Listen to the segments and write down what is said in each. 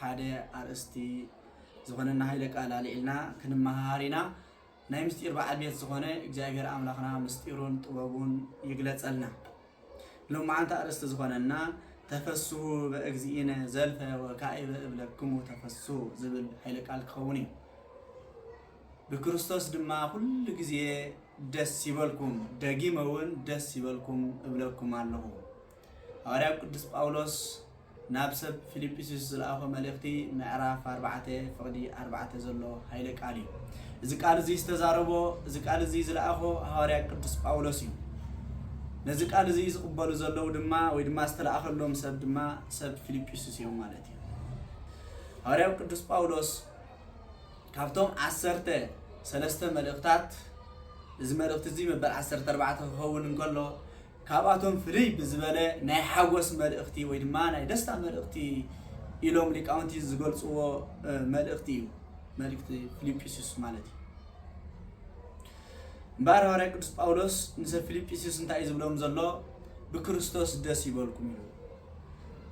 ሓደ ኣርእስቲ ዝኮነና ሃይለ ቃል ኣልዒልና ክንመሃሃር ኢና ናይ ምስጢር በዓል ቤት ዝኮነ እግዚኣብሔር ኣምላክና ምስጢሩን ጥበቡን ይግለጸልና ሎማዓንቲ ኣርእስቲ ዝኮነና ተፈስሁ በእግዚእነ ዘልፈ ወካዕበ እብለክሙ ተፈስሁ ዝብል ሃይለ ቃል ክኸውን እዩ ብክርስቶስ ድማ ኩሉ ግዜ ደስ ይበልኩም ደጊመ እውን ደስ ይበልኩም እብለኩም ኣለኹ ሃዋርያ ቅዱስ ጳውሎስ ናብ ሰብ ፊልጵስዩስ ዝለኣኾ መልእኽቲ ምዕራፍ ኣርባዕተ ፍቕዲ ኣርባዕተ ዘሎ ሃይለ ቃል እዩ። እዚ ቃል እዚ ዝተዛረቦ እዚ ቃል እዚ ዝለኣኾ ሃዋርያ ቅዱስ ጳውሎስ እዩ። ነዚ ቃል እዚ ዝቕበሉ ዘለዉ ድማ ወይ ድማ ዝተለኣኸሎም ሰብ ድማ ሰብ ፊልጵስዩስ እዮም ማለት እዩ። ሃዋርያው ቅዱስ ጳውሎስ ካብቶም ዓሰርተ ሰለስተ መልእኽታት እዚ መልእኽቲ እዚ መበል ዓሰርተ ኣርባዕተ ክኸውን እንከሎ ካብኣቶም ፍልይ ብዝበለ ናይ ሓጎስ መልእኽቲ ወይ ድማ ናይ ደስታ መልእኽቲ ኢሎም ሊቃውንቲ ዝገልጽዎ መልእኽቲ እዩ። መልእኽቲ ፊልጵስዩስ ማለት እዩ። እምበኣር ሃዋርያ ቅዱስ ጳውሎስ ንሰብ ፊልጵስዩስ እንታይ እዩ ዝብሎም ዘሎ? ብክርስቶስ ደስ ይበልኩም እዩ።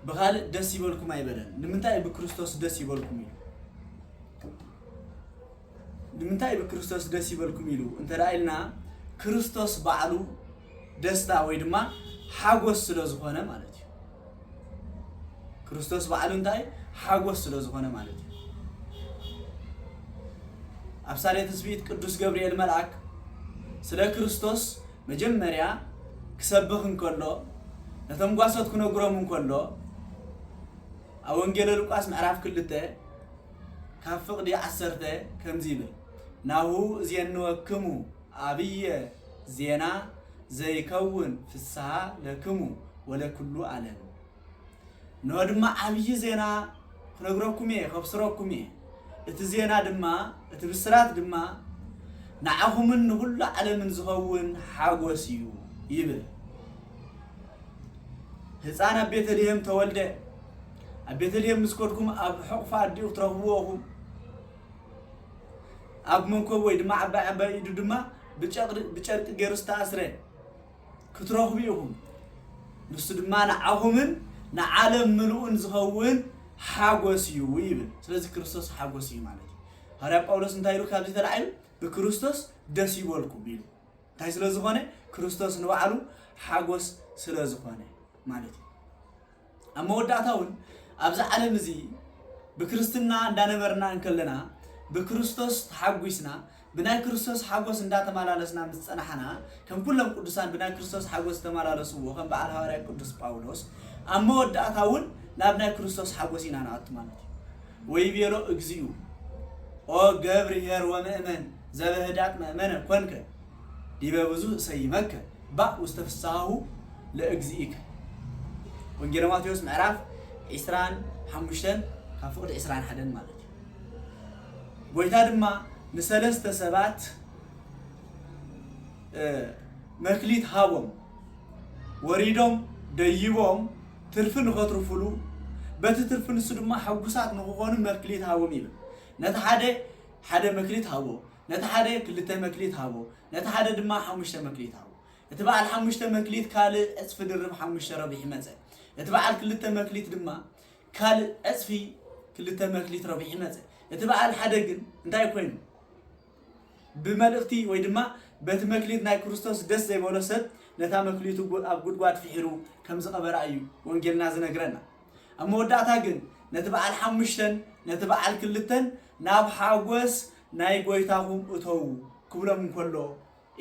ብኻልእ ደስ ይበልኩም ኣይበለን። ንምንታይ ብክርስቶስ ደስ ይበልኩም እዩ? ንምንታይ ብክርስቶስ ደስ ይበልኩም ኢሉ እንተ ኢልና ክርስቶስ ባዕሉ ደስታ ወይ ድማ ሓጎስ ስለ ዝኾነ ማለት እዩ። ክርስቶስ ባዕሉ እንታይ ሓጎስ ስለ ዝኾነ ማለት እዩ። ኣብ ሳሌ ትስብእት ቅዱስ ገብርኤል መልኣክ ስለ ክርስቶስ መጀመርያ ክሰብኽ እንከሎ ነቶም ጓሶት ክነግሮም እንከሎ ኣብ ወንጌለ ሉቃስ ምዕራፍ ክልተ ካብ ፍቕዲ ዓሰርተ ከምዚ ይብል፣ ናሁ እዜንወክሙ ኣብየ ዜና ዘይከውን ፍስሃ ለክሙ ወለኵሉ ዓለም። እነሆ ድማ ዓብዪ ዜና ኽነግረኩም እየ፣ ኸብስረኩም እየ። እቲ ዜና ድማ፣ እቲ ብስራት ድማ ንዓኹምን ንዅሉ ዓለምን ዚኸውን ሓጐስ እዩ ይብል። ህፃን ኣብ ቤተልሔም ተወልደ። ኣብ ቤተልሔም ምስ ከድኩም ኣብ ሕቑፊ ኣዲኡ ክትረኽብዎ ኢኹም። ኣብ መንኮብ ወይ ድማ ዓባይ ዓባይ ኢዱ ድማ ብጨርቂ ገይሩ ዝተኣስረ ክትረኽቡ ኢኹም። ንሱ ድማ ንዓኹምን ንዓለም ምልኡን ዝኸውን ሓጎስ እዩ ይብል። ስለዚ ክርስቶስ ሓጎስ እዩ ማለት እዩ። ሃዋርያ ጳውሎስ እንታይ ኢሉ ካብዚ ተላዒሉ ብክርስቶስ ደስ ይበልኩም ኢሉ። እንታይ ስለ ዝኾነ ክርስቶስ ንባዕሉ ሓጎስ ስለ ዝኾነ ማለት እዩ። ኣብ መወዳእታ እውን ኣብዚ ዓለም እዚ ብክርስትና እንዳነበርና እንከለና ብክርስቶስ ተሓጒስና ብናይ ክርስቶስ ሓጎስ እንዳተመላለስና ምስ ጸናሕና ከም ኩሎም ቅዱሳን ብናይ ክርስቶስ ሓጎስ ዝተመላለስዎ ከም በዓል ሃዋርያ ቅዱስ ጳውሎስ ኣብ መወዳእታ እውን ናብ ናይ ክርስቶስ ሓጎስ ኢና ንኣቱ ማለት እዩ ወይ ቤሎ እግዚኡ ኦ ገብርሄር ወምእመን ዘበህዳጥ መእመነ ኮንከ ዲበ ብዙኅ እሰይመከ ባእ ውስተ ፍሥሓሁ ለእግዚእከ ወንጌለ ማቴዎስ ምዕራፍ ዕሥራን ሓሙሽተን ካብ ፍቕዲ ዕሥራን ሓደን ማለት እዩ። ጐይታ ድማ ንሠለስተ ሰባት መክሊት ሃቦም ወሪዶም ደይቦም ትርፊ ንኸትርፉሉ በቲ ትርፊ ንሱ ድማ ሕጉሳት ንክኾኑ መክሊት ሃቦም ይብል። ነቲ ሓደ ሓደ መክሊት ሃቦ፣ ነቲ ሓደ ክልተ መክሊት ሃቦ፣ ነቲ ሓደ ድማ ሓሙሽተ መክሊት ሃቦ። እቲ በዓል ሓሙሽተ መክሊት ካልእ ዕጽፊ ድርብ ሓሙሽተ ረብሒ መጸ። እቲ በዓል ክልተ መክሊት ድማ ካልእ ዕጽፊ ክልተ መክሊት ረብሒ መጸ። እቲ በዓል ሓደ ግን እንታይ ኮይኑ? ብመልእኽቲ ወይ ድማ በቲ መክሊት ናይ ክርስቶስ ደስ ዘይበሎ ሰብ ነታ መክሊቱ ኣብ ጉድጓድ ፍሒሩ ከም ዝቐበራ እዩ ወንጌልና ዝነግረና። ኣብ መወዳእታ ግን ነቲ በዓል ሓሙሽተን ነቲ በዓል ክልተን ናብ ሓጎስ ናይ ጎይታኹም እተዉ ክብሎም እንከሎ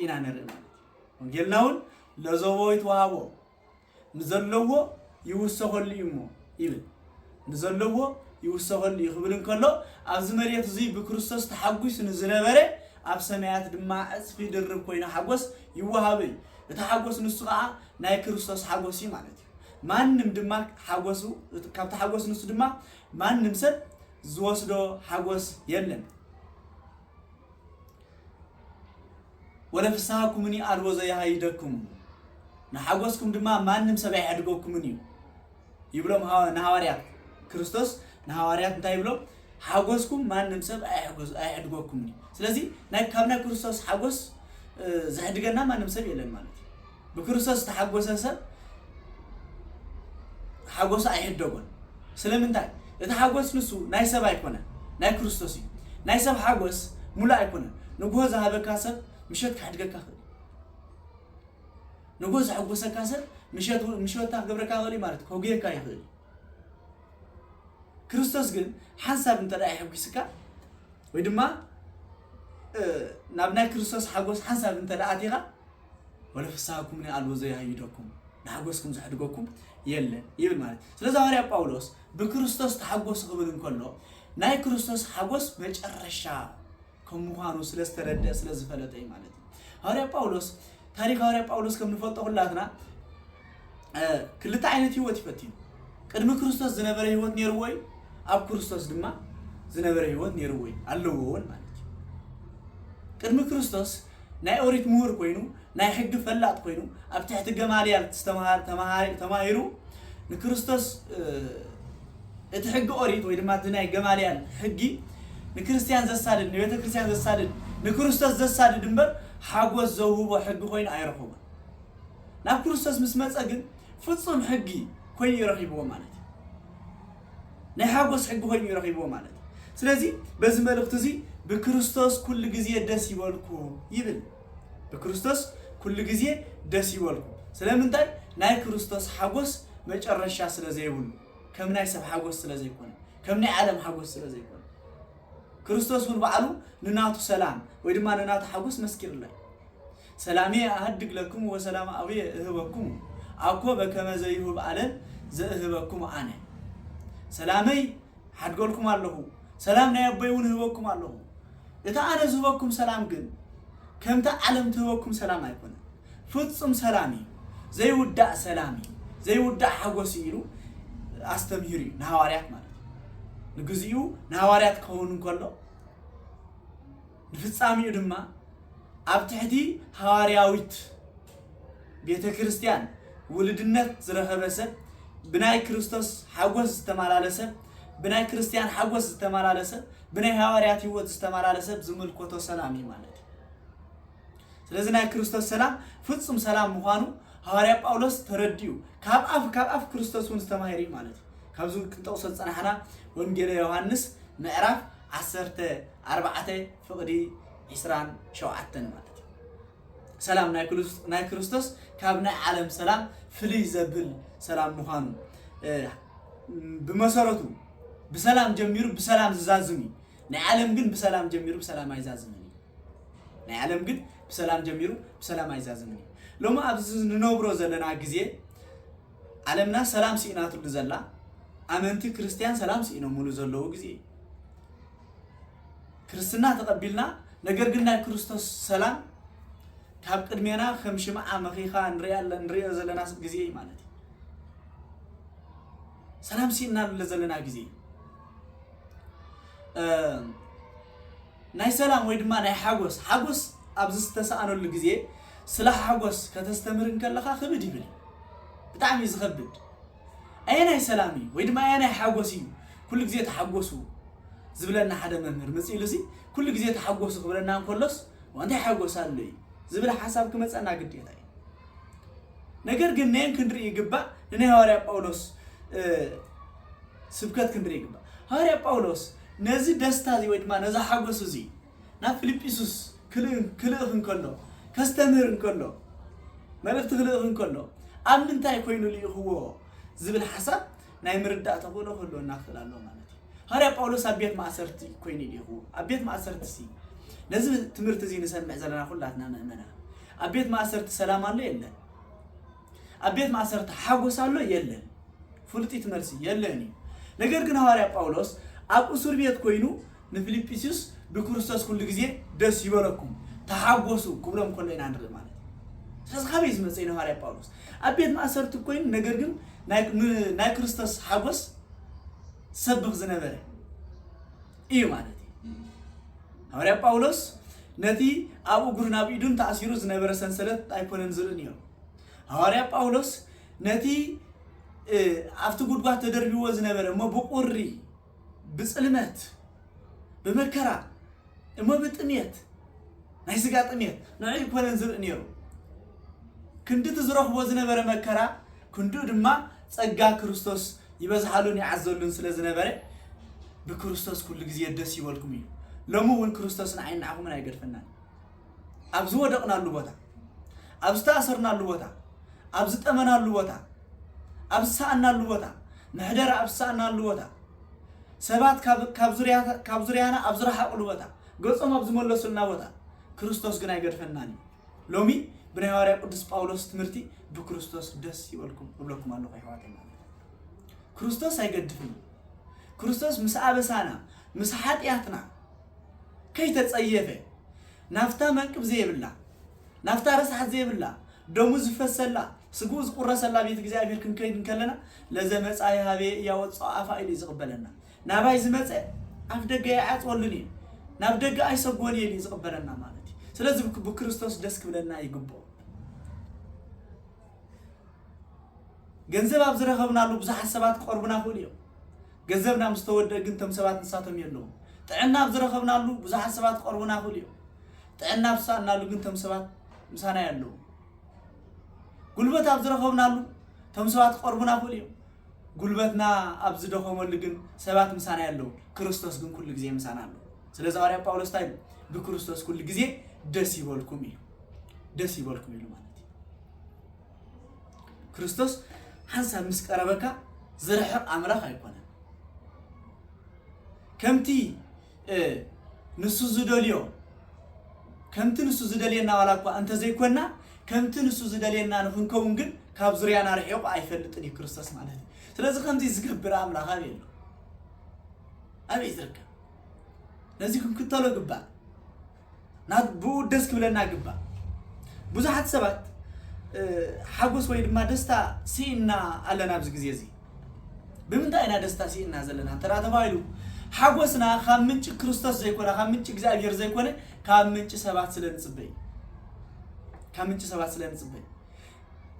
ኢና ንርኢ ማለት እዩ። ወንጌልና እውን ለዘቦ ይትወሃቦ ንዘለዎ ይውሰኸሉ እዩ እሞ ይብል ንዘለዎ ይውሰኸሉ እዩ ክብል እንከሎ ኣብዚ መሬት እዙይ ብክርስቶስ ተሓጒሱ ንዝነበረ ኣብ ሰማያት ድማ ዕፅፊ ድርብ ኮይኑ ሓጎስ ይወሃበ እዩ። እቲ ሓጎስ ንሱ ከዓ ናይ ክርስቶስ ሓጎስ እዩ ማለት እዩ። ማንም ድማ ሓጎሱ ካብቲ ሓጎስ ንሱ ድማ ማንም ሰብ ዝወስዶ ሓጎስ የለን ወለ ፍስሃኩምኒ ኣልቦ ዘየሃይደክሙ ንሓጎስኩም ድማ ማንም ሰብ ኣይሐድገኩምን እዩ ይብሎም ሃዋ- ንሃዋርያት ክርስቶስ ንሃዋርያት እንታይ ይብሎም ሓጎስኩም ማንም ሰብ ኣይሕጎስ- ኣይሕድገኩምን እዩ ስለዚ ናይ- ካብ ናይ ክርስቶስ ሓጎስ እ፣ ዘሕድገና ማንም ሰብ የለን ማለት እዩ ብክርስቶስ ዝተሓጎሰ ሰብ ሓጎሱ ኣይሕደጎን። ስለምንታይ? እቲ ሓጎስ ንሱ ናይ ሰብ ኣይኮነን፣ ናይ ክርስቶስ እዩ። ናይ ሰብ ሓጎስ ሙሉእ ኣይኮነን። ንጉሆ ዝሃበካ ሰብ ምሸት ክሓድገካ ክእል ንጉሆ ዘሐጎሰካ ሰብ ምሸት ምሸታ ክገብረካ ክእል ማለት ከጉየካ ይኽእል ክርስቶስ ግን ሓንሳብ እንተ የሐጒስካ ወይ ድማ ናብ ናይ ክርስቶስ ሓጎስ ሓንሳብ እንተ ኣቲኻ ወለ ፍስሃኩምኒ ኣልቦ ዘየሀይደኩም፣ ንሓጐስኩም ዘሕድገኩም የለን ይብል ማለት እዩ። ስለዚ ሃዋርያ ጳውሎስ ብክርስቶስ ተሓጐሱ ክብል እንከሎ ናይ ክርስቶስ ሓጐስ መጨረሻ ከም ምዃኑ ስለ ዝተረድአ ስለ ዝፈለጠ እዩ ማለት እዩ። ሃዋርያ ጳውሎስ ታሪክ ሃዋርያ ጳውሎስ ከም ንፈልጦ ኩላትና ክልተ ዓይነት ህይወት እዩ ፈቲኑ። ቅድሚ ክርስቶስ ዝነበረ ህይወት ነይርዎ እዩ፣ ኣብ ክርስቶስ ድማ ዝነበረ ህይወት ነይርዎ እዩ ኣለዎ እውን ማለት እዩ። ቅድሚ ክርስቶስ ናይ ኦሪት ምሁር ኮይኑ ናይ ሕጊ ፈላጥ ኮይኑ ኣብ ትሕቲ ገማልያል ተማሂሩ ንክርስቶስ እቲ ሕጊ ኦሪት ወይ ድማ እቲ ናይ ገማልያል ሕጊ ንክርስትያን ዘሳድድ ንቤተ ክርስትያን ዘሳድድ ንክርስቶስ ዘሳድድ እምበር ሓጎስ ዘውህቦ ሕጊ ኮይኑ ኣይረኸቦን። ናብ ክርስቶስ ምስ መጸ ግን ፍጹም ሕጊ ኮይኑ እዩ ረኺብዎ ማለት እዩ። ናይ ሓጎስ ሕጊ ኮይኑ እዩ ረኺብዎ ማለት እዩ። ስለዚ በዚ መልእኽቲ እዚ ብክርስቶስ ኩሉ ግዜ ደስ ይበልኩም ይብል። ብክርስቶስ ኩሉ ግዜ ደስ ይበልኩም። ስለምንታይ? ናይ ክርስቶስ ሓጎስ መጨረሻ ስለ ዘይብሉ፣ ከም ናይ ሰብ ሓጎስ ስለ ዘይኮነ፣ ከም ናይ ዓለም ሓጎስ ስለ ዘይኮነ ክርስቶስ እውን ባዕሉ ንናቱ ሰላም ወይ ድማ ንናቱ ሓጎስ መስኪርላ እዩ። ሰላምየ ኣህድግ ለክሙ ወሰላም ኣብየ እህበክሙ ኣኮ በከመ ዘይሁብ ዓለም ዘእህበክሙ ኣነ። ሰላመይ ሓድገልኩም ኣለኹ፣ ሰላም ናይ ኣቦይ እውን እህበኩም ኣለኹ። እቲ ኣነ ዝህበኩም ሰላም ግን ከምቲ ዓለም ትህበኩም ሰላም ኣይኮነን። ፍጹም ሰላም እዩ፣ ዘይውዳእ ሰላም እዩ፣ ዘይውዳእ ሓጐስ እዩ ኢሉ ኣስተምሂሩ እዩ፣ ንሃዋርያት ማለት እዩ። ንግዚኡ ንሃዋርያት ክኸውን እንከሎ፣ ንፍጻሜኡ ድማ ኣብ ትሕቲ ሃዋርያዊት ቤተ ክርስቲያን ውሉድነት ዝረኸበ ሰብ፣ ብናይ ክርስቶስ ሓጐስ ዝተመላለሰ፣ ብናይ ክርስቲያን ሓጐስ ዝተመላለሰ፣ ብናይ ሃዋርያት ህይወት ዝተመላለሰ ዝምልከቶ ሰላም እዩ ማለት እዩ። ስለዚ ናይ ክርስቶስ ሰላም ፍጹም ሰላም ምዃኑ ሃዋርያ ጳውሎስ ተረዲኡ ካብ ኣፍ ካብ ኣፍ ክርስቶስ እውን ዝተማሂሩ እዩ ማለት እዩ ካብዚ ክንጠቕሶ ዝፀናሕና ወንጌለ ዮሃንስ ምዕራፍ ዓሰርተ ኣርባዕተ ፍቕዲ ዒስራን ሸውዓተን ማለት እዩ ሰላም ናይ ክርስ- ናይ ክርስቶስ ካብ ናይ ዓለም ሰላም ፍልይ ዘብል ሰላም ምዃኑ እ፣ ብመሰረቱ ብሰላም ጀሚሩ ብሰላም ዝዛዝም እዩ ናይ ዓለም ግን ብሰላም ጀሚሩ ብሰላም ኣይዛዝምን እዩ ናይ ዓለም ግን ብሰላም ጀሚሩ ብሰላም ኣይዛዝምን እዩ። ሎሚ ኣብዚ ንነብሮ ዘለና ግዜ ዓለምና ሰላም ስኢናትሉ ዘላ ኣመንቲ ክርስትያን ሰላም ስኢኖምሉ ዘለዉ ግዜ እዩ። ክርስትና ተቐቢልና ነገር ግን ናይ ክርስቶስ ሰላም ካብ ቅድሜና ከም ሽምዓ መኺኻ ንሪኦ ዘለና ግዜ እዩ ማለት እዩ። ሰላም ስኢናሉ ዘለና ግዜ እዩ። ናይ ሰላም ወይ ድማ ናይ ሓጎስ ሓጎስ ኣብ ዝስተሳኣነሉ ግዜ ስለ ሓጎስ ከተስተምህር እንከለኻ ክብድ ይብል እዩ ብጣዕሚ እዩ ዝኸብድ ኣየናይ ሰላም እዩ ወይ ድማ ኣየናይ ሓጎስ እዩ ኩሉ ግዜ ተሓጎሱ ዝብለና ሓደ መምህር መጽእ ኢሉሲ ኩሉ ግዜ ተሓጎሱ ክብለና እንከሎስ እንታይ ሓጎስ ኣሎ እዩ ዝብል ሓሳብ ክመጸና ግዴታ እዩ ነገር ግን ነን ክንርኢ ይግባእ ንናይ ሃዋርያ ጳውሎስ ስብከት ክንርኢ ይግባእ። ሃዋርያ ጳውሎስ ነዚ ደስታ እዚ ወይ ድማ ነዚ ሓጐስ እዚ ናብ ፊልጵስዩስ ክልእኽ እንከሎ፣ ከስተምህር እንከሎ፣ መልእኽቲ ክልእኽ እንከሎ ኣብ ምንታይ ኮይኑ ልኢኽዎ ዝብል ሓሳብ ናይ ምርዳእ ተኽእሎ ክህልወና ክኽእል ኣለዎ ማለት እዩ። ሃዋርያ ጳውሎስ ኣብ ቤት ማእሰርቲ ኮይኑ እዩ ልኢኽዎ። ኣብ ቤት ማእሰርቲሲ ነዚ ትምህርቲ እዚ ንሰምዕ ዘለና ኩላትና ምእመናን ኣብ ቤት ማእሰርቲ ሰላም ኣሎ የለን? ኣብ ቤት ማእሰርቲ ሓጎስ ኣሎ? የለን። ፍሉጢት መልሲ፣ የለን እዩ። ነገር ግን ሃዋርያ ጳውሎስ ኣብ እሱር ቤት ኮይኑ ንፊልጵስዩስ ብክርስቶስ ኩሉ ግዜ ደስ ይበለኩም፣ ተሓጎሱ ክብሎም ከሎ ኢና ንርኢ ማለት እዩ። ስለዚ ካበይ እዩ ዝመጸ ኢልና ሃዋርያ ጳውሎስ ኣብ ቤት ማእሰርቲ ኮይኑ ነገር ግን ናይ ንናይ ክርስቶስ ሓጎስ ዝሰብኽ ዝነበረ እዩ ማለት እዩ። ሃዋርያ ጳውሎስ ነቲ ኣብ እግሩን ኣብ ኢዱን ተኣሲሩ ዝነበረ ሰንሰለት ኣይኮነን ዝርኢ ነይሩ። ሃዋርያ ጳውሎስ ነቲ ኣብቲ ጉድጓድ ተደርቢዎ ዝነበረ እሞ ብቁሪ ብጽልመት ብመከራ እሞ ብጥምየት ናይ ስጋ ጥምየት ንዕ ኮነን ዝርኢ ነይሩ ክንዲ እቲ ዝረኽቦ ዝነበረ መከራ ክንዱ ድማ ጸጋ ክርስቶስ ይበዝሓሉን ይዓዘሉን ስለ ዝነበረ ብክርስቶስ ኩሉ ግዜ ደስ ይበልኩም እዩ ሎሚ እውን ክርስቶስ ንዓይ ንዓኹምን ኣይገድፈናን ኣብ ዝወደቕናሉ ቦታ፣ ኣብ ዝተኣሰርናሉ ቦታ፣ ኣብ ዝጠመናሉ ቦታ፣ ኣብ ዝሰኣናሉ ቦታ፣ ምሕደራ ኣብ ዝሰኣናሉ ቦታ፣ ሰባት ካብ ዙርያና ኣብ ዝረሓቑሉ ቦታ፣ ገጾም ኣብ ዝመለሱልና ቦታ፣ ክርስቶስ ግን ኣይገድፈናን እዩ። ሎሚ ብናይ ሃዋርያ ቅዱስ ጳውሎስ ትምህርቲ ብክርስቶስ ደስ ይበልኩም እብለኩም ኣለኹ ኣሕዋተይ ማለት ክርስቶስ ኣይገድፍን ክርስቶስ ምስ ኣበሳና ምስ ሓጢኣትና ከይተጸየፈ ናብታ መንቅብ ዘይብላ ናብታ ረስሓት ዘይብላ ደሙ ዝፈሰላ ስግኡ ዝቁረሰላ ቤት እግዚኣብሔር ክንከይድ እንከለና ለዘመፃ ይሃበ እያወፅኦ ኣፋ ኢሉ ዝቕበለና ናባይ ዝመፀ ኣፍ ደገ ኣይዓፅወሉን እዩ ናብ ደገ ኣይሰጎን እየ እዩ ዝቕበለና ማለት እዩ ስለዚ ብክርስቶስ ደስ ክብለና ይግብኦ ገንዘብ ኣብ ዝረኸብናሉ ብዙሓት ሰባት ክቐርቡና ክእሉ እዮም ገዘብና ምስ ተወደእ ግን እቶም ሰባት ንሳቶም የለዉን። ጥዕና ኣብ ዝረኸብናሉ ብዙሓት ሰባት ክቐርቡና ይኽእሉ እዮም። ጥዕና ኣብ ዝሰኣንናሉ ግን እቶም ሰባት ምሳና የለዉን። ጉልበት ኣብ ዝረኸብናሉ እቶም ሰባት ክቐርቡና ይኽእሉ እዮም። ጉልበትና ኣብ ዝደኸመሉ ግን ሰባት ምሳና የለዉን። ክርስቶስ ግን ኩሉ ግዜ ምሳና ኣሎ። ስለዚ ሃዋርያ ጳውሎስ እንታይ ኢሉ? ብክርስቶስ ኩሉ ግዜ ደስ ይበልኩም ኢሉ። ደስ ይበልኩም ኢሉ ማለት እዩ። ክርስቶስ ሓንሳብ ምስ ቀረበካ ዝርሕቕ ኣምላኽ ኣይኮነን። ከምቲ ንሱ ዝደልዮ ከምቲ ንሱ ዝደልየና ዋላ እኳ እንተዘይኮና ከምቲ ንሱ ዝደልየና ንክንከውን ግን ካብ ዙርያና ርሒቑ ኣይፈልጥን እዩ ክርስቶስ ማለት እዩ። ስለዚ ከምዚ ዝገብር ኣምላኽ ኣበይ ኣሎ? ኣበይ ዝርከብ? ነዚ ክንክተሎ ግባእ። ናብ ብኡ ደስ ክብለና ይግባእ። ብዙሓት ሰባት ሓጎስ ወይ ድማ ደስታ ስኢንና ኣለና ኣብዚ ግዜ እዚ። ብምንታይ ኢና ደስታ ስኢንና ዘለና እንተ ተባሂሉ ሓጎስና ካብ ምንጪ ክርስቶስ ዘይኮነ ካብ ምንጪ እግዚኣብሔር ዘይኮነ ካብ ምንጪ ሰባት ስለ ንጽበይ ካብ ምንጪ ሰባት ስለ ንጽበይ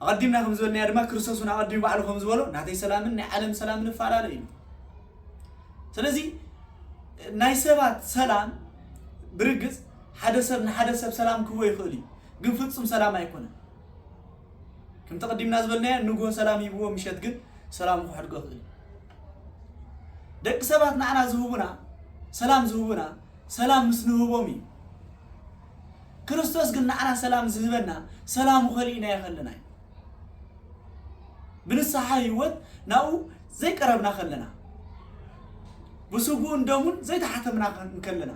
ኣቐዲምና ከም ዝበልናዮ ድማ ክርስቶስ እውን ኣቐዲሙ ባዕሉ ከም ዝበሎ ናተይ ሰላምን ናይ ዓለም ሰላምን እፈላለ እዩ ስለዚ ናይ ሰባት ሰላም ብርግጽ ሓደ ሰብ ንሓደ ሰብ ሰላም ክህቦ ይኽእል እዩ፣ ግን ፍጹም ሰላም ኣይኮነን። ከምቲ ቅዲምና ዝበልናዮ ንግሆ ሰላም ሂብዎ ምሸት ግን ሰላሙ ክሕድጎ ይኽእል እዩ። ደቂ ሰባት ንዓና ዝህቡና ሰላም ዝህቡና ሰላም ምስ ንህቦም እዩ። ክርስቶስ ግን ንዓና ሰላም ዝህበና ሰላሙ ከሊእናዮ ከለና እዩ። ብንስሓ ህይወት ናብኡ ዘይቀረብና ከለና ብስጉኡን ደሙን ዘይተሓተምና እንከለና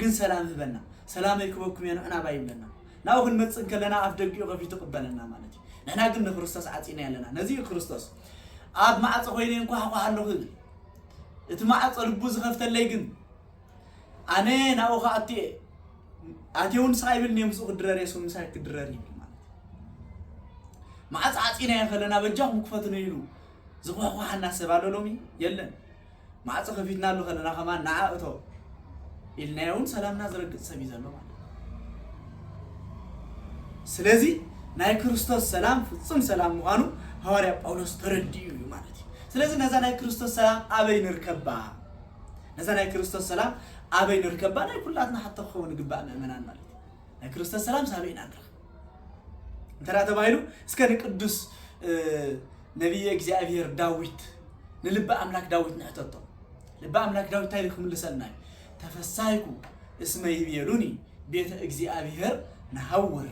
ግን ሰላም ህበና ሰላመይ ክበኩም እየ ንዕና ባይ ይብለና ናብኡ ክንመፅእ እንከለና ኣፍ ደጊኡ ከፊቱ ይቕበለና ማለት እዩ ንሕና ግን ንክርስቶስ ዓፂና ኣለና ነዚ እዩ ክርስቶስ ኣብ ማዕፆ ኮይነ እንኳሕኳሕ ኣለኹ ይብል እቲ ማዕፆ ልቡ ዝኸፍተለይ ግን ኣነ ናብኡ ክኣቱ እየ ኣትየ እውን ስቓ ይብልኒ እየ ምስኡ ክድረር እየ ስም ምሳይ ክድረር ይብል ማለት እዩ ማዕፆ ዓፂና እየ ከለና በጃኹም ክፈትኑ ኢሉ ዝኳሕኳሓና ሰብ ኣሎ ሎሚ? የለን። ማዕጾ ከፊትናሉ ከለና ከማን ንዓ እቶ ኢልናዮ እውን ሰላምና ዝረግጽ ሰብ እዩ ዘሎ ማለት ስለዚ ናይ ክርስቶስ ሰላም ፍጹም ሰላም ምዃኑ ሃዋርያ ጳውሎስ ተረዲኡ እዩ ማለት እዩ። ስለዚ ነዛ ናይ ክርስቶስ ሰላም ኣበይ ንርከባ? ነዛ ናይ ክርስቶስ ሰላም ኣበይ ንርከባ? ናይ ኩላትና ሓቶ ክኸውን ይግባእ ምእመናን ማለት እዩ። ናይ ክርስቶስ ሰላም ሳበይ ኢና ንረኽብ እንተ ተባሂሉ እስከ ንቅዱስ ነብየ እግዚኣብሄር ዳዊት ንልቢ ኣምላክ ዳዊት ንሕተቶ ልቢ ኣምላክ ዳዊት እንታይ ኢሉ ክምልሰልና እዩ ተፈሳይኩ እስመ ይቤሉኒ ቤተ እግዚኣብሄር ንሃውር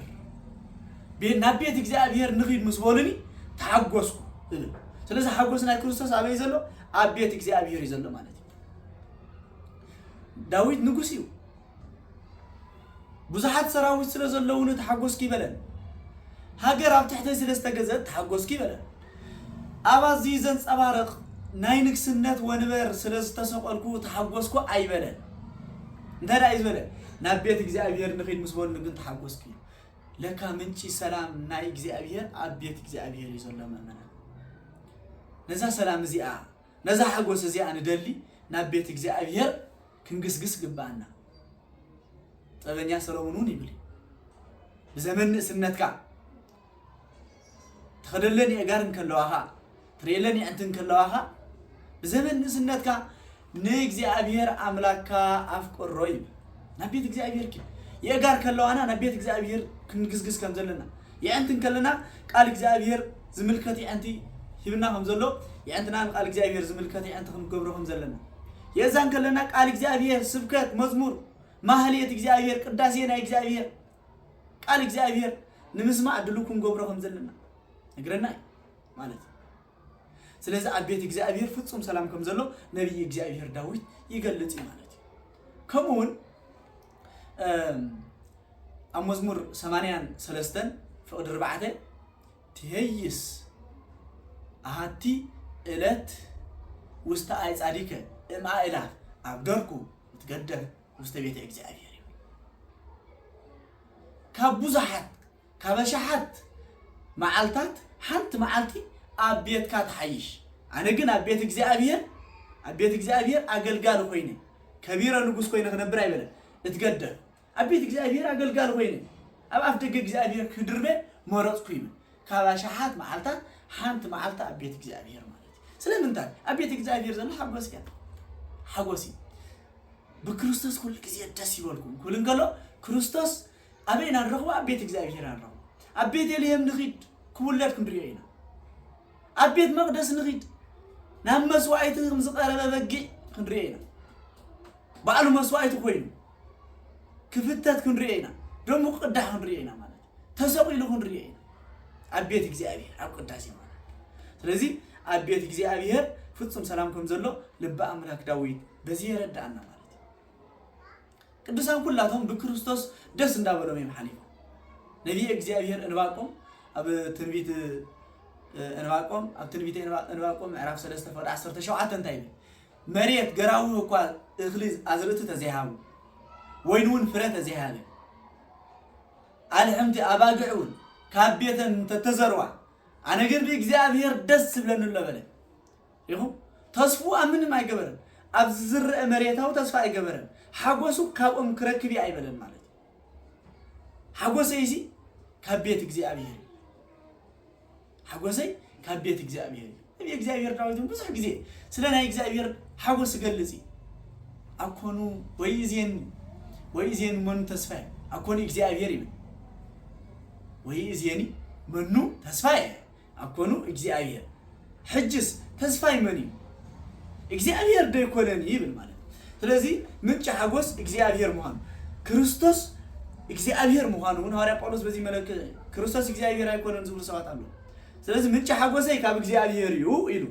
ቤ- ናብ ቤት እግዚኣብሄር ንኺድ ምስ በሉኒ ተሓጎስኩ እብል ስለዚ ሓጎስ ናይ ክርስቶስ ኣበይ ዘሎ ኣብ ቤት እግዚኣብሄር እዩ ዘሎ ማለት እዩ ዳዊት ንጉስ እዩ ብዙሓት ሰራዊት ስለ ዘለዉኒ ተሓጎስኩ ይበለን። ሃገር ኣብ ትሕተይ ስለ ዝተገዝእት ተሓጎስኩ ይበለን። ኣብ ኣዝዩ ዘንጸባርቕ ናይ ንግስነት ወንበር ስለ ዝተሰቐልኩ ተሓጎስኩ ኣይበለን። እንታይ ደኣ እዩ ዝበለ? ናብ ቤት እግዚኣብሔር ንኺድ ምስ በሉ ግን ተሓጎስኩ እዩ። ለካ ምንጪ ሰላም ናይ እግዚኣብሔር ኣብ ቤት እግዚኣብሔር እዩ ዘሎ ምእመናን። ነዛ ሰላም እዚኣ ነዛ ሓጎስ እዚኣ ንደሊ ናብ ቤት እግዚኣብሔር ክንግስግስ ግብኣና። ጥበበኛ ሰሎሞን እውን ይብል እዩ ብዘመን ንእስነትካ ትኸደለን የእጋር እንከለዋኻ ትርእየለን የዕንቲ እንከለዋኻ ብዘመን ንእስነትካ ንእግዚኣብሔር ኣምላክካ ኣፍቅሮ ይብል ናብ ቤት እግዚኣብሔር ኪድ የእጋር ከለዋና ናብ ቤት እግዚኣብሔር ክንግስግስ ከም ዘለና የዕንቲ እንከለና ቃል እግዚኣብሄር ዝምልከት የዕንቲ ሂብና ከም ዘሎ የዕንትና ንቃል እግዚኣብሄር ዝምልከት የዕንቲ ክንገብሮ ከም ዘለና የዛ እንከለና ቃል እግዚኣብሄር ስብከት መዝሙር ማህሌት እግዚኣብሄር ቅዳሴ ናይ እግዚኣብሄር ቃል እግዚኣብሄር ንምስማዕ ድሉ ክንገብሮ ከም ዘለና ነግረና እዩ ማለት እዩ ስለዚ ኣብ ቤት እግዚኣብሄር ፍጹም ሰላም ከም ዘሎ ነቢይ እግዚኣብሄር ዳዊት ይገልጽ እዩ ማለት እዩ ከምኡ እውን ኣብ መዝሙር ሰማንያን ሰለስተን ፍቕዲ ርባዕተ ትሄይስ ኣሃቲ እለት ውስተ ኣይጻዲከ እምኣእላፍ ኣብ ደርኩ እትገደፍ ውስተ ቤተ እግዚኣብሔር እዩ ካብ ብዙሓት ካብ ኣሽሓት መዓልታት ሓንቲ መዓልቲ ኣብ ቤትካ ትሓይሽ። ኣነ ግን ኣብ ቤት እግዚኣብሄር ኣብ ቤት እግዚኣብሄር ኣገልጋሊ ኮይነ ከቢረ ንጉስ ኮይነ ክነብር ኣይበለን እትገደፍ ኣብ ቤት እግዚኣብሄር ኣገልጋሊ ኮይነ ኣብ ኣፍ ደገ እግዚኣብሄር ክድርበ መረፅኩ ይብል ካብ ኣሽሓት መዓልታት ሓንቲ መዓልቲ ኣብ ቤት እግዚኣብሄር ማለት እዩ ስለምንታይ ኣብ ቤት እግዚኣብሄር ዘሎ ሓጎስ እያ ሓጎስ እዩ ብክርስቶስ ኩሉ ግዜ ደስ ይበልኩም ክብል እንከሎ ክርስቶስ ኣበይ ኢና ንረኽቦ? ኣብ ቤት እግዚኣብሄር ኢና ንረኽቦ። ኣብ ቤተልሔም ንኺድ ክውለድ ክንርእዮ ኢና። ኣብ ቤት መቕደስ ንኺድ ናብ መስዋእቲ ከም ዝቐረበ በጊዕ ክንርእዮ ኢና። ባዕሉ መስዋእቲ ኮይኑ ክፍተት ክንርእዮ ኢና። ደሙ ክቕዳሕ ክንርእዮ ኢና ማለት እዩ። ተሰቒሉ ክንርእዮ ኢና ኣብ ቤት እግዚኣብሄር ኣብ ቅዳሴ ማለት ስለዚ ኣብ ቤት እግዚኣብሄር ፍጹም ሰላም ከም ዘሎ ልቢ ኣምላክ ዳዊት በዚ የረድኣና ማለት እዩ። ቅዱሳን ኩላቶም ብክርስቶስ ደስ እንዳበሎም እዮም ሓሊፎም። ነቢየ እግዚኣብሔር እንባቆም ኣብ ትንቢት እንባቆም ኣብ ትንቢት እንባቆም ምዕራፍ 3 ፍቅዲ 17 እንታይ ይብል? መሬት ገራዊ እኳ እኽሊ ኣዝርእቲ ተዘይሃቡ ወይን እውን ፍረ ተዘይሃበ ኣልሕምቲ ኣባግዕ እውን ካብ ቤተን እንተተዘርዋ ኣነ ግን ብእግዚኣብሔር ደስ ዝብለኒ ኣሎ በለ። ኢኹም። ተስፍኡ ኣብ ምንም ኣይገበረን። ኣብ ዝዝረእ መሬታዊ ተስፋ ኣይገበረን። ሓጎሱ ካብኦም ክረክብ እየ ኣይበለን ማለት እዩ። ሓጎሰይሲ ካብ ቤት እግዚኣብሔር እዩ። ሓጎሰይ ካብ ቤት እግዚኣብሔር እዩ። ነቢየ እግዚኣብሔር ዳዊት እውን ብዙሕ ግዜ ስለ ናይ እግዚኣብሔር ሓጎስ ይገልጽ እዩ። ኣኮኑ ወይእዜኒ ወይእዜኒ መኑ ተስፋየ ኣኮኑ እግዚኣብሔር ይብል ወይእዜኒ መኑ ተስፋየ ኣኮኑ እግዚኣብሔር ሕጅስ ተስፋይ መን እዩ እግዚኣብሔር ዶ ኣይኮነን ይብል ማለት ስለዚ ምንጪ ሓጎስ እግዚኣብሔር ምዃኑ ክርስቶስ እግዚኣብሔር ምዃኑ እውን ሃዋርያ ጳውሎስ በዚ መለክ ክርስቶስ እግዚኣብሔር ኣይኮነን ዝብሉ ሰባት ኣለዉ ስለዚ ምንጪ ሓጎሰይ ካብ እግዚኣብሔር እዩ ኢሉ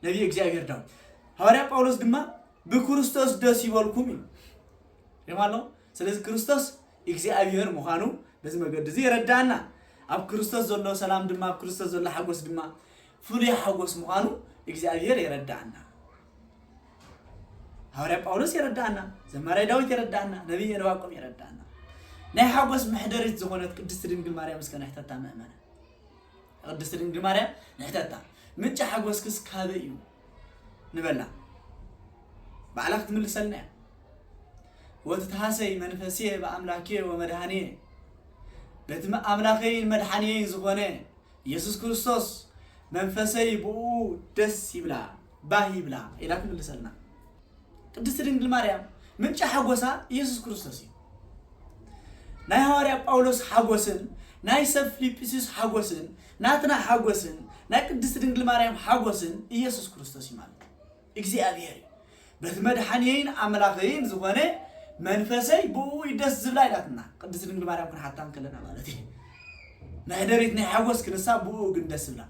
ነቢይ እግዚኣብሔር ዳዊት ሃዋርያ ጳውሎስ ድማ ብክርስቶስ ደስ ይበልኩም እዩ ሪማ ኣሎ ስለዚ ክርስቶስ እግዚኣብሔር ምዃኑ በዚ መገዲ እዚ የረድኣና። ኣብ ክርስቶስ ዘሎ ሰላም ድማ ኣብ ክርስቶስ ዘሎ ሓጎስ ድማ ፍሉይ ሓጎስ ምዃኑ እግዚኣብሔር የረድኣና። ሃዋርያ ጳውሎስ የረድኣና፣ ዘማራይ ዳዊት የረድኣና፣ ነቢይ ዕንባቆም የረድኣና። ናይ ሓጎስ መሕደሪት ዝኾነት ቅድስቲ ድንግል ማርያም እስከ ንሕተታ ምእመነ ቅድስቲ ድንግል ማርያም ንሕተታ ምንጪ ሓጎስክስ ካበይ እዩ? ንበላ ባዕላ ክትምልሰልና እያ ወትትሃሰይ መንፈስየ ብኣምላክየ ወመድሃንየ በቲ ኣምላኸይን መድሓንየይን ዝኾነ ኢየሱስ ክርስቶስ መንፈሰይ ብኡ ደስ ይብላ ባህ ይብላ ኢላ ትምልሰልና ቅድስቲ ድንግል ማርያም ምንጫ ሓጎሳ ኢየሱስ ክርስቶስ እዩ ናይ ሃዋርያ ጳውሎስ ሓጎስን ናይ ሰብ ፊልጵስዩስ ሓጎስን ናትና ሓጎስን ናይ ቅድስት ድንግል ማርያም ሓጎስን ኢየሱስ ክርስቶስ እዩ ማለት እዩ። እግዚኣብሔር እዩ። በቲ መድሓኒየይን ኣምላኸይን ዝኾነ መንፈሰይ ብእኡ እዩ ደስ ዝብላ ኢላትና ቅድስት ድንግል ማርያም ክንሓታ እንከለና ማለት እዩ። መሕደሪት ናይ ሓጎስ ክንሳ ብእኡ ግን ደስ ዝብላ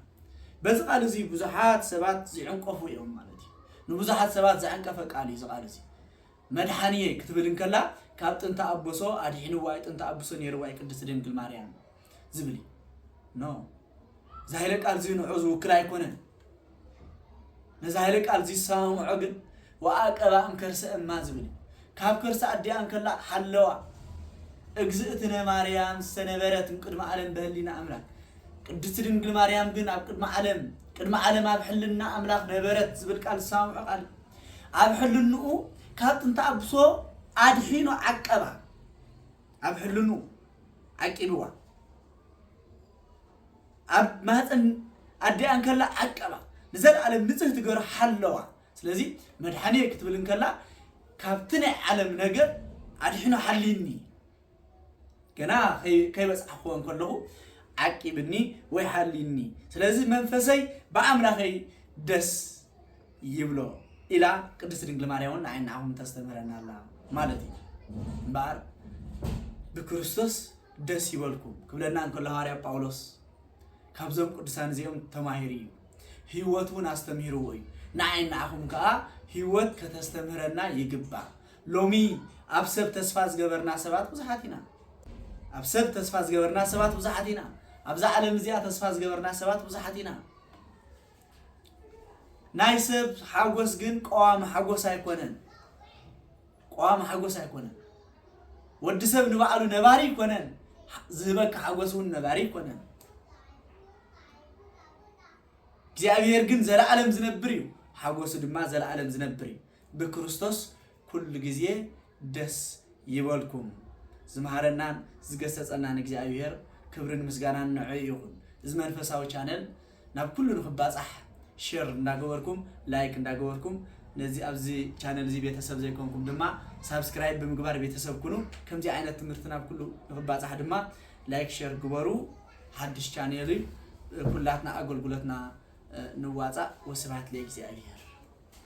በዚ ቃል እዚ ብዙሓት ሰባት ዝዕንቀፉ እዮም ማለት እዩ። ንብዙሓት ሰባት ዘዕንቀፈ ቃል እዩ እዚ ቃል እዚ መድሓኒየይ ክትብል እንከላ ካብ ጥንቲ ኣቦሶ ኣድሒንዋ እዩ ጥንቲ ኣቦሶ ነይርዋ እዩ ቅድስት ድንግል ማርያም ዝብል እዩ ኖ እዚ ሃይለ ቃል እዚ ንዑ ዝውክል ኣይኮነን ነዚ ሃይለ ቃል እዚ ዝሰማምዖ ግን ወኣቀባ እምከርሰ እማ ዝብል እዩ ካብ ከርሲ ኣዲኣ እንከላ ሓለዋ እግዝእትነ ማርያም ዝተነበረት እምቅድሚ ዓለም በህሊና ኣምላክ ቅድስቲ ድንግል ማርያም ግን ኣብ ቅድሚ ዓለም ቅድሚ ዓለም ኣብ ሕልና ኣምላክ ነበረት ዝብል ቃል ዝሰማምዖ ቃል እዩ ኣብ ሕልንኡ ካብ ጥንቲ ኣብሶ ኣድሒኑ ዓቀባ ኣብ ሕልንኡ ዓቂብዋ። ኣብ ማህፀን ኣዲኣ እንከላ ዓቀባ። ንዘለኣለም ንፅህቲ ገሩ ሓለዋ። ስለዚ መድሓኒየ ክትብል እንከላ ካብቲ ናይ ዓለም ነገር ኣድሕኑ ሓልይኒ ገና ከይበፅሓኽዎ እንከለኹ ዓቂብኒ ወይ ሓልይኒ። ስለዚ መንፈሰይ ብኣምላኸይ ደስ ይብሎ ኢላ ቅድስት ድንግል ማርያም እውን ንዓይ ንዓኹም ተስተምህረና ኣላ ማለት እዩ እምበኣር ብክርስቶስ ደስ ይበልኩም ክብለና እንከሎ ሃዋርያ ጳውሎስ ካብዞም ቅዱሳን እዚኦም ተማሂሩ እዩ ህይወት እውን ኣስተምህርዎ እዩ ንዓይ ንዓኹም ከዓ ህይወት ከተስተምህረና ይግባእ ሎሚ ኣብ ሰብ ተስፋ ዝገበርና ሰባት ብዙሓት ኢና ኣብ ሰብ ተስፋ ዝገበርና ሰባት ብዙሓት ኢና ኣብዛ ዓለም እዚኣ ተስፋ ዝገበርና ሰባት ብዙሓት ኢና ናይ ሰብ ሓጎስ ግን ቀዋሚ ሓጎስ ኣይኮነን። ቀዋሚ ሓጎስ ኣይኮነን። ወዲ ሰብ ንባዕሉ ነባሪ ኣይኮነን። ዝህበካ ሓጎስ እውን ነባሪ ኣይኮነን። እግዚኣብሔር ግን ዘለዓለም ዝነብር እዩ። ሓጎሱ ድማ ዘለዓለም ዝነብር እዩ። ብክርስቶስ ኩሉ ግዜ ደስ ይበልኩም። ዝመሃረናን ዝገሰጸናን እግዚኣብሄር ክብርን ምስጋናን ንዕዑ ይኹን። እዚ መንፈሳዊ ቻነል ናብ ኩሉ ንኽባጻሕ ሼር እንዳገበርኩም ላይክ እንዳገበርኩም ነዚ ኣብዚ ቻነል እዚ ቤተሰብ ዘይኮንኩም ድማ ሳብስክራይብ ብምግባር ቤተሰብ ኩኑ። ከምዚ ዓይነት ትምህርቲ ናብ ኩሉ ንኽባጻሕ ድማ ላይክ ሼር ግበሩ። ሓድሽ ቻነል እዩ። ኩላትና ኣገልግሎትና ንዋጻእ። ወስብሃት ለእግዚኣብሄር።